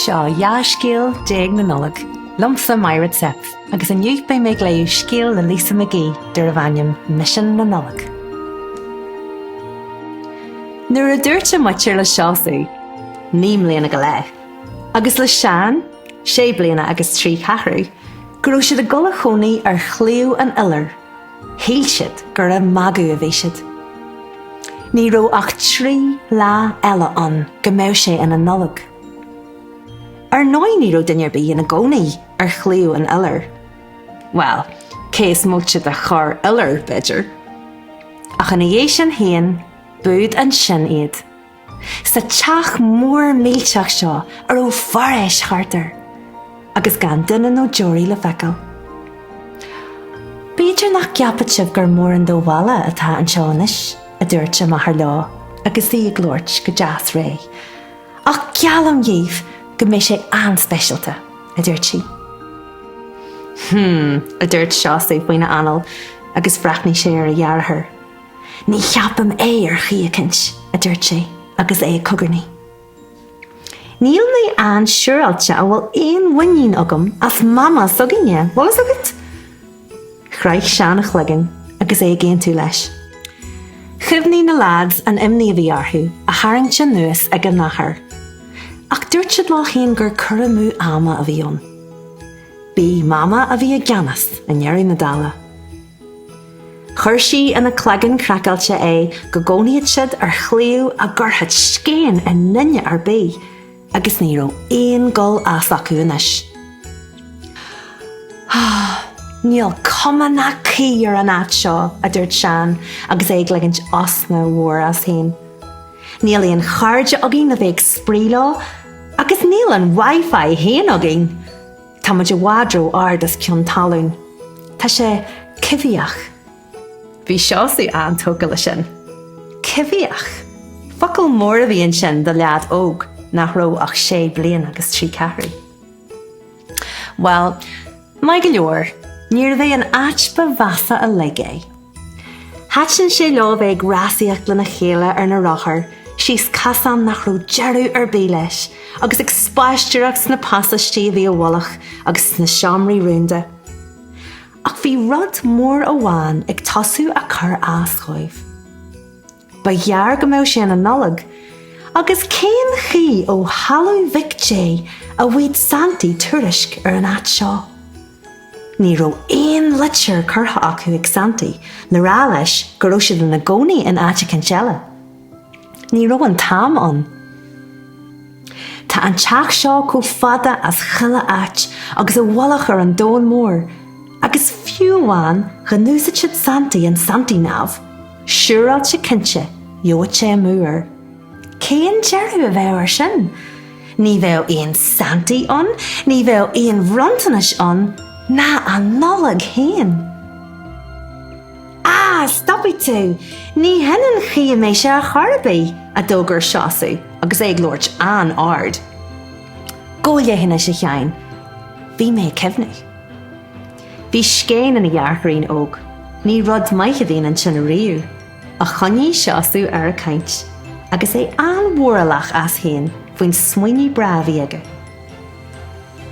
Seo Dhá Scéal Déag na Nollag, liomsa, Máire Zepf, agus inniu beidh mé ag léamh scéal le Lisa McGee darbh ainm Misean na Nollag. Nuair a dúirt a máthair le Seosamh, naoi mbliana go leith, agus le Seán, sé bliana agus trí cheathrú, go raibh siad ag dul a chónaí ar Shliabh an Iolair. Shíl siad gur ag magadh a bhí siad. Ní raibh ach trí lá eile ann go mbeadh sé ina Nollaig. Ar ndóigh ní raibh duine ar bith ina gcónaí ar Shliabh an Iolair. Bhuel, cé is móite de chorr-iolar, b'fhéidir. Ach ina dhiaidh sin fhéin, b'iúd ansin iad. sa teach mór millteach seo a raibh foraois thart air agus gan duine nó deoraí le feiceáil. B'fhéidir nach gceapfadh sibh gur mórán de bhaile atá anseo anois, a dúirt a máthair leo agus í ag labhairt go deas réidh, ach geallaim dhaoibh go mbeidh sé an-speisialta, a dúirt sí. Hm, a dúirt Seosaimh faoina anál agus bhreathnaigh sé ar a dheartháir. Ní cheapaim é ar chaoi eicint, a dúirt sé agus é ag cogarnaí. Níl mé an-siúráilte a bhfuil aon mhuinín agam as Mama s'againne, bhfuil fhios agat? Chroith Seán a chloigeann agus é ag aontú leis. Chuimhnigh na leaids an imní a bhí orthu a tharraingt anuas ag a n-athair. Ach dúirt siad leo féin gur cur amú ama a bhí ann. B'í Mama a bhí i gceannas i ndeireadh na dála. Chuir sí ina cloigeann craiceáilte é go gcónaíodh siad ar shliabh a gcuirfeadh scéin i nduine ar bith, agus ní raibh aon gul as acu anois. Níl cuma ná caoi ar an áit seo, a dúirt Seán agus é ag ligint osna mhór as féin. Níl aon chairde againn le bheith ag spraoi leo, agus níl an Wi-Fi féin againn! Tá muid i bhfad ró ard os cionn talún. Tá sé coimhthíoch. Bhí Seosamh an-tógtha le sin. Coimhthíoch! Focal mór a bhí ansin do leaid óg nach raibh ach sé bliain agus trí ceathrú. Bhuel, maith go leor, níorbh é an áit ba mheasa uilig é. Thaitin sé leo bheith ag rásaíocht lena chéile ar na rothair, síos casán nach raibh deireadh ar bith leis, agus ag spaisteoireacht sna pasáistí a bhí i bhfolach agus sna seomraí rúnda. Ach bhí rud mór amháin ag tosú a cur as dhóibh. Ba ghearr go mbeadh sé ina Nollaig, agus cén chaoi ó thalamh Mhic Dé a bhfaigheadh Santaí tuairisc ar an áit seo. Ní raibh aon leitir curtha acu ag Santaí le rá leis go raibh siad ina gcónaí in áit eicínt eile. Ní raibh an t-am ann. Tá an teach seo chomh fada as 'chuile áit agus i bhfolach ar an domhan mór, agus fiú amháin dhá n-úsáidfeadh Santaí an Santaí-nav, Siúráilte cinnte ghabhfadh sé amú air. Cén deireadh a bheadh air sin? Ní bheadh aon Santaí ann, ní bheadh aon bhronntanais ann, ná an Nollaig féin. Á, stopfaidh tú! Ní hin an chaoi a mbeidh sé ar chor ar bith! a d'fhógair Seosamh agus é ag labhairt an-ard. Gabh i leith anois, a Sheáin, bhí mé ag cuimhneamh. Bhí scéin ina dheartháirín óg. Ní rud maith a bhíodh ansin ariamh ach choinnigh Seosamh air ag caint agus é an-mhóralach as féin faoin smaoineamh breá a bhí aige.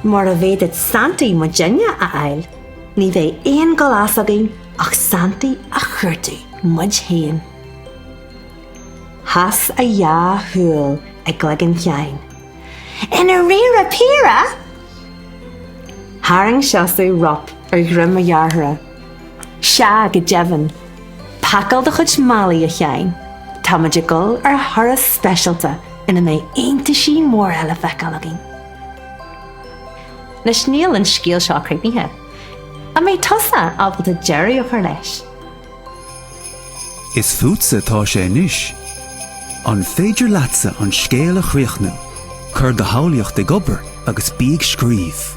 Mura bhféadfadh Santaí muidne a fháil ní bheidh aon dul as againn ach Santaí a chuartú muid féin Sheas a dhá shúil i gcloigeann Sheáin. I ndairíre píre? Tharraing Seosamh rop ar dhruim a dhearthára. Sea go deimhin. Pacáil do chuid málaí, a Sheáin. Táimid ag dul ar thuras speisialta ina mbeidh iontais móra le feiceáil againn. Anois níl an scéal seo críochnaithe. An mbeidh tusa ábalta deireadh a chur leis? Is fútsa atá sé anois. An féidir leatsa an scéal a chríochnú? Cuir do shamhlaíocht ag obair agus bí ag scríobh.